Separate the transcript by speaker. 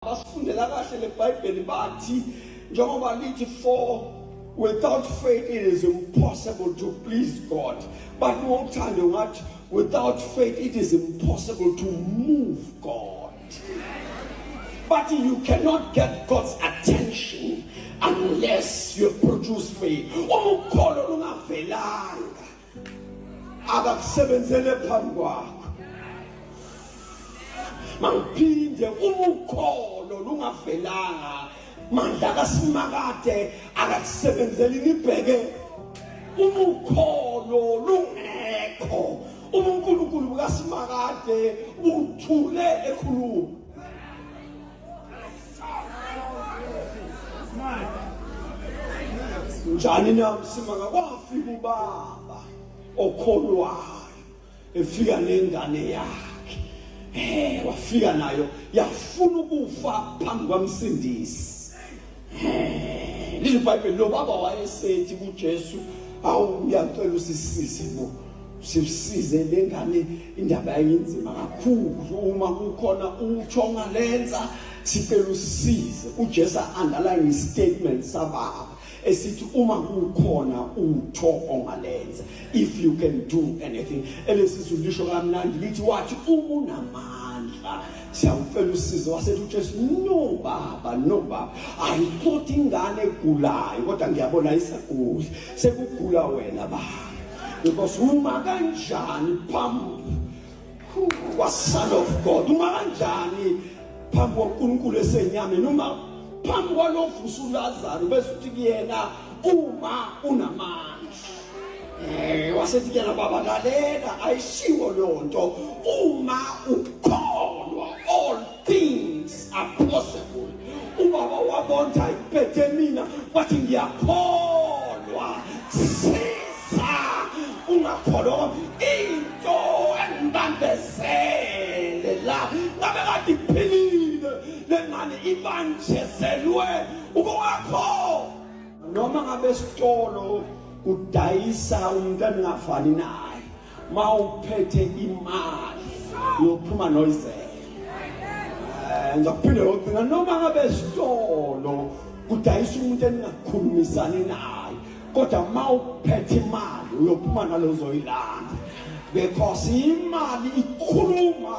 Speaker 1: Basifundela kahle leBhayibheli bathi njengoba lithi for without faith it is impossible to please God. But ngokuthanda ungathi without faith it is impossible to move God. But you cannot get God's attention unless you produce faith. Uma ukholo lungavelanga akakusebenzele phambi kwakho mawuphinde uma ukholo lungavelanga mandla kasimakade akakusebenzeli nibheke uma ukholo lungekho uma unkulunkulu bukasimakade uthule ekhuluma njani na msimanga kwafika ubaba okholwayo efika nengane yakhe eh wafika nayo yafuna ukufa phambi kwamsindisi Lizwi iBhayibheli lo baba wayesethi kuJesu awu uyacela usisize bo. Sisize lengane indaba yayinzima kakhulu uma kukhona utsho ngalenza sicela usisize. UJesu underline istatement sababa esithi uma kukhona utho ongalenza if you can do anything elesizulu lisho kamnandi lithi wathi uma unamandla siyakucela usizo wasethi ujesu no baba no baba i thought ingane egulayo kodwa ngiyabona isaguli sekugula wena baba because uma kanjani phambi kwason of god uma kanjani phambi kwankulunkulu esenyameni uma phambi kwalovusa ulazaro bese uthi kuyena uma unamandla Eh wasethi kuyena baba lalela ayishiwo leyo nto uma ukholwa all things are possible. Ubaba wabonda impethe mina wathi ngiyakholwa. Siza ungakholwa into engibambezele la ngabe kade iphilile lengane ibanjezelwe ukwakho noma ngabe esitolo kudayisa umuntu engafani naye ma uphethe imali yophuma noyizela eh, ngizakuphinde yocinga noma ngabe esitolo kudayisa umuntu eningakhulumisani naye kodwa ma uphethe imali uyophuma nalozoyilanda because imali ikhuluma